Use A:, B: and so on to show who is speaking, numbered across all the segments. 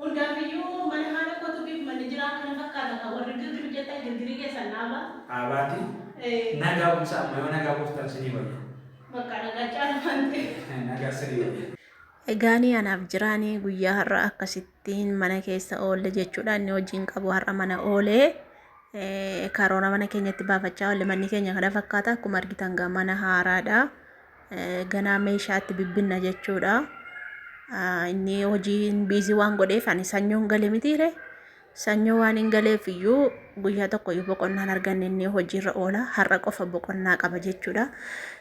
A: Hundaaf iyyuu mana haadha kootu bif manni jiraa kana fakkaata kaa warri girgir jettan girgirii keessan dhaabaa. Dhaabaati
B: nagaa buusa amma yoo nagaa buuftan sinii wayya. Bakka nagaa
A: caala waan ta'eef. Nagaa sinii
B: wayya. Egaanii anaaf
C: jiraanii guyyaa har'a akkasittiin mana keessa oolle jechuudha inni hojii hin qabu har'a mana oolee karoora mana keenyatti baafachaa oolle manni keenya kana fakkaata akkuma argitan gaa mana haaraadha ganaa meeshaatti bibbinna jechuudha. Inni hojiin biizii waan godheef ani sanyoon gale mitiire sanyoo waan hin galeef iyyuu guyyaa tokko iyyuu boqonnaan arganne inni hojiirra oola har'a qofa boqonnaa qaba jechuudha.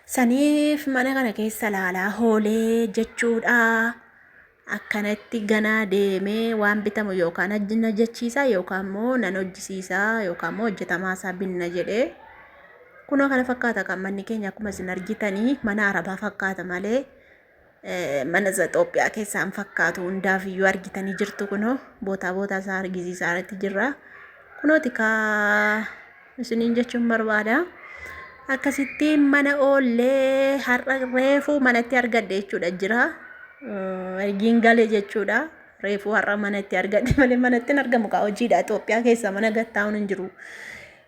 C: Saniif mana kana keessa laalaa hoolee jechuudha. akkanatti ganaa deemee waan bitamu yookaan hajji na jechiisa yookaan immoo nan hojjisiisa yookaan immoo hojjetamaa isaa binna jedhee kunoo kana fakkaata kan manni keenya akkuma isin argitanii mana arabaa fakkaata malee eh, mana isa Itoophiyaa keessaa hin fakkaatu hundaaf iyyuu argitanii jirtu kunoo bootaa bootaa isaa argisiisaa irratti jirra kunooti kaa isiniin jechuun barbaada. Akkasitti mana oollee har'a reefuu manatti argadhe jechuudha jira. Ergiin gale jechuudha. Reefuu har'a manatti argadhe malee manatti hin argamu kaa hojiidha. Itoophiyaa keessa mana gattaa'uun hin jiru.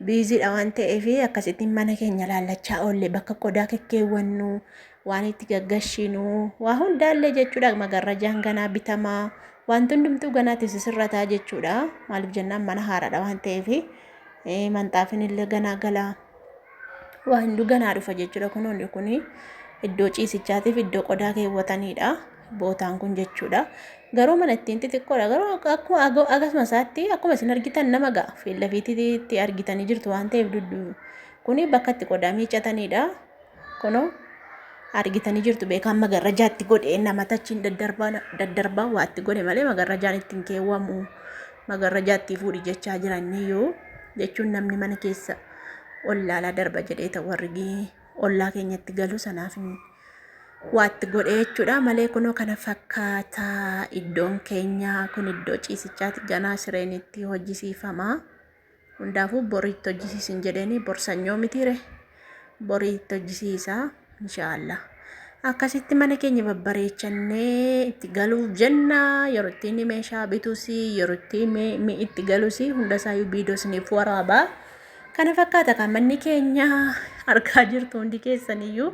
C: Biiziidha waan ta'eef akkasitti mana keenya laallachaa oolle bakka qodaa kekkeewwannu waan itti gaggashinu waa hundaallee jechuudha magarrajaan ganaa bitamaa wanti hundumtuu ganaatti sisirrataa jechuudha. Maaliif jennaan mana haaraadha waan ta'eef. Eh, Manxaafin illee ganaa galaa. Waa hunduu ganaa dhufa jechuudha. Kunoonni kun iddoo ciisichaatiif iddoo qodaa keewwataniidha. Bootaan kun jechuudha. Garuu mana ittiin xixiqqoodha. Garuu akka- akkuma aga- akkasuma isaatti akkuma isin argitan nama ga'a. Fiillafiitti itti argitanii jirtu waan ta'eef duddu. Kuni bakka itti qodaa miiccataniidha. Kunoo argitanii jirtu beekaan magarrajaa itti godhe namata achiin daddarbaa daddarbaa waa itti godhe malee magarrajaan itti hin keewwamu magarrajaa itti fuudhi jechaa jiranii yoo jechuun namni mana keessa ollaalaa darba jedhee ta'u warri ollaa keenyatti galu sanaaf hin waa itti godhe jechuudha malee kunoo kana fakkaataa iddoon keenyaa kun iddoo ciisichaati ganaa sireen itti hojjisiifamaa. Hundaafuu bor itti hojjisiisin jedheeni bor sanyoo mitiire borii itti hojjisiisa inshaallah. Akkasitti mana keenya babbareechannee itti galuuf jenna yeroo itti inni meeshaa bitus yeroo itti mi- mi itti galus hunda isaayyuu viidiyoo isiniif waraaba. Kana fakkaata kan manni keenya argaa jirtu hundi keessaniyyuu.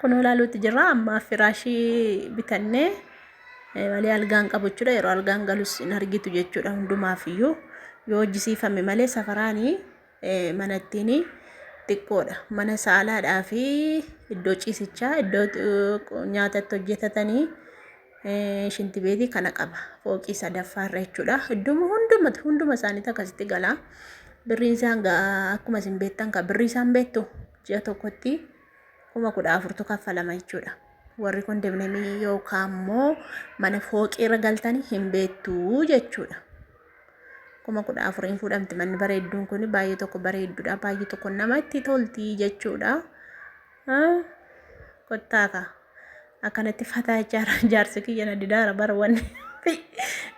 C: Kunoo ilaaluutti jirra amma firaashii bitannee malee algaan qabu jechuudha yeroo algaan galus hin argitu jechuudha hundumaaf iyyuu yoo hojjisiifame malee safaraanii manattiin xiqqoodha mana saalaadhaa fi iddoo ciisichaa iddoo nyaata itti hojjetatanii shinti beetii kana qaba fooqii sadaffaa irra jechuudha idduma hunduma hunduma isaaniitti akkasitti galaa birriin isaan akkuma isin beektan kan birrii isaan beektu ji'a tokkotti kuma kudha afurtu kaffalama jechuudha. Warri kondominiyeemii yookaan immoo mana fooqii irra galtanii hin beektu jechuudha. Kuma kudha afuriin fuudhamti manni bareedduun kun baay'ee tokko bareedduudha baay'ee tokko namatti tolti jechuudha. Kottaaka akkanatti fataa jaara jaarsi kiyya na didaara bara wanni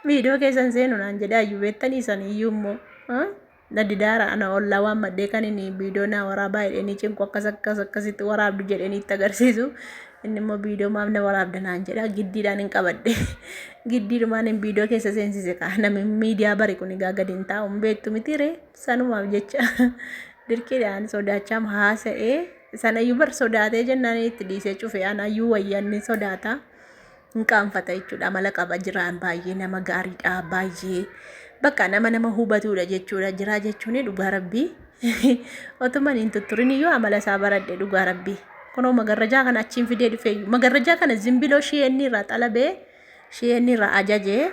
C: miidhoo keessan seenu naan jedhaa iyyuu beektanii isanii iyyuu immoo. na didaara ana ollaa waan maddee kan inni viidiyoo naa waraabaa jedhee ni cinqu akkas akkas akkasitti waraabdu jedhee ni itti agarsiisu inni immoo viidiyoo maaf na waraabda naan jedha giddiidhaan hin qabadhe giddiidhumaan hin viidiyoo keessa seensise kaa namni miidiyaa bari kun egaa gadi hin taa'u hin beektu miti ree sanumaaf jecha dirqiidhaan sodaachaam haasa'ee sanayyuu bar sodaatee jennaan itti dhiisee cufe anayyuu wayyanni sodaata. hin qaanfata jechuudha amala qaba jiraa baay'ee nama gaariidha baay'ee bakka nama nama hubatuudha jechuudha jiraa jechuun dhugaa rabbii otuman hin tutturin iyyuu amala isaa baradhe dhugaa rabbii kunoo magarrajaa kana achiin fidee dhufeeyyu magarrajaa kana zimbiloo shiyeenni irraa xalabee shiyeenni irraa ajajee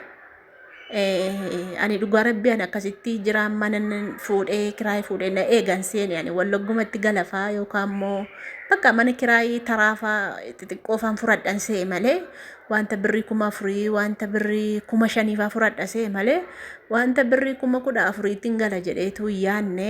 C: ani dhugaa rabbii ani akkasitti jiraan mana fuudhee kiraayii fuudhee na eegan seeni ani wallaggumatti galafaa yookaan immoo bakka mana kiraayii taraafaa xixiqqoofaan furadhan se'e malee wanta birrii kuma afurii wanta birrii kuma shaniifaa furadha se'e malee wanta birrii kuma kudha afuriitiin gala jedheetu yaanne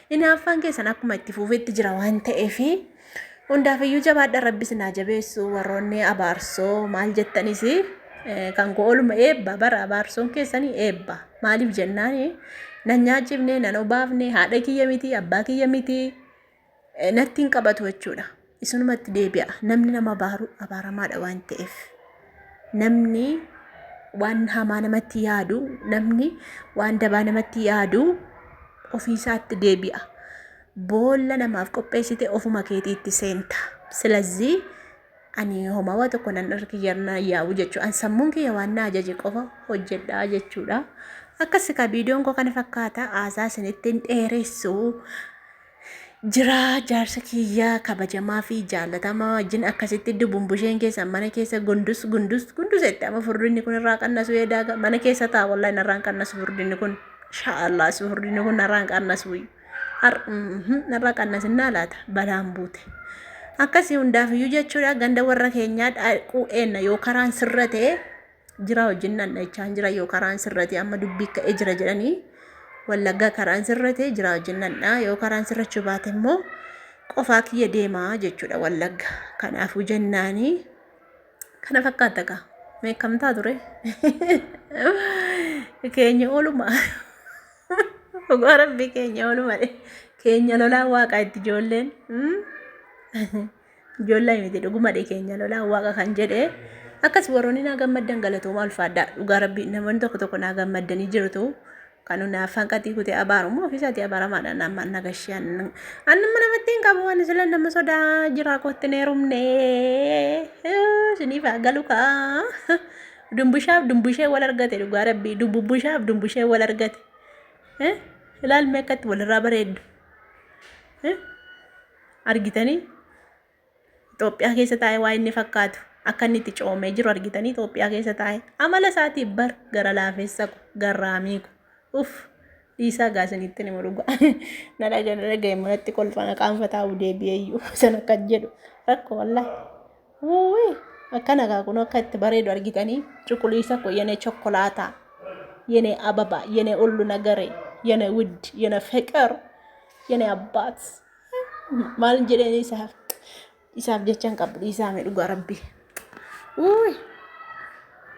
C: Hinaaffaan keessan akkuma itti fuufetti jira waan ta'eef hundaafiyyuu jabaadha rabbi isin haa jabeessu warroonni abaarsoo maal jettanis eh, kan koo oluma eebba bara abaarsoon keessanii eebba maaliif jennaan nan nyaachifne nan obaafne haadha kiyya miti abbaa kiyya miti eh, natti hin qabatu jechuudha. isinumatti deebi'a namni nama abaaru abaaramaadha waan ta'eef namni waan hamaa namatti yaadu namni waan dabaa namatti yaadu ofiisaatti deebi'a boolla namaaf qopheessite ofuma keetiitti seenta silazii ani homaa waa tokko nan irra kiyyarna yaa'u jechuu an sammuun kiyya waan na ajaje qofa hojjedhaa jechuudha akkasi ka viidiyoon koo kana fakkaata haasaa isinitti hin dheeressu jiraa jaarsa kiyyaa kabajamaa fi jaalatamaa wajjin akkasitti dubumbusheen keessan mana keessa gundus gundus gundus itti amma furdinni kun irraa qannasu eedaaga mana keessa ta'a wallahi narraan qannasu furdinni kun inshaallah si furdinni kun narraan qannasu narraa qannasinnaa laata balaan buute akkasii hundaafiyyuu jechuudha ganda warra keenyaa dhaaquu eenna yoo karaan sirra ta'e jira hojiin dhandhachaan jira yoo karaan sirrate amma dubbii ka'ee jira jedhanii wallaggaa karaan sirrate jira hojiin dhandhaa yoo karaan sirrachuu baate immoo qofaa kiyya deemaa jechuudha wallagga kanaafuu jennaanii kana fakkaata kaa meekamtaa ture keenya ooluma dhugaa rabbii keenya ooluma keenya lolaa waaqaa itti ijoolleen. Ijoollee miti dhuguma dhee keenya lolaa waaqa kan jedhe akkas warroonni naa gammaddan galatoomaa ulfaadhaa dhugaa rabbi namoonni tokko tokko naa gammaddanii jirtu kan naaf hanqatii kutee abaarummaa ofiisaatii abaaramaadha nama nagashee annumma namatti hin qabu waan sila nama sodaa jiraa kootti hin heerumne siniif haa galu kaa dumbushaaf dumbushee wal argate dhugaa rabbi dumbushaaf dumbushee wal argate ilaalme akkatti walirraa bareeddu. Argitanii? Itoophiyaa keessa taa'ee waa inni fakkaatu akka inni itti coomee jiru argitanii Itoophiyaa keessa taa'ee? Amala isaatiif bar gara laafessa ko garraamii ko uff dhiisaa gaa isinitti himu dhugaa na dhaga na dhaga'e immoo natti kolfa na qaanfataa u deebi'ee iyyuu san akka jedhu rakko wallahi wuuwii akkana gaa kun akka itti bareedu argitanii cuquliisa ko yenee chokkolaataa yenee ababa yenee ullu nagaree yenee wudd yenee feqer Yene abbaat maal jedheen isaaf isaaf jechaan qabu dhiisaame dhugaa rabbi. Uuy.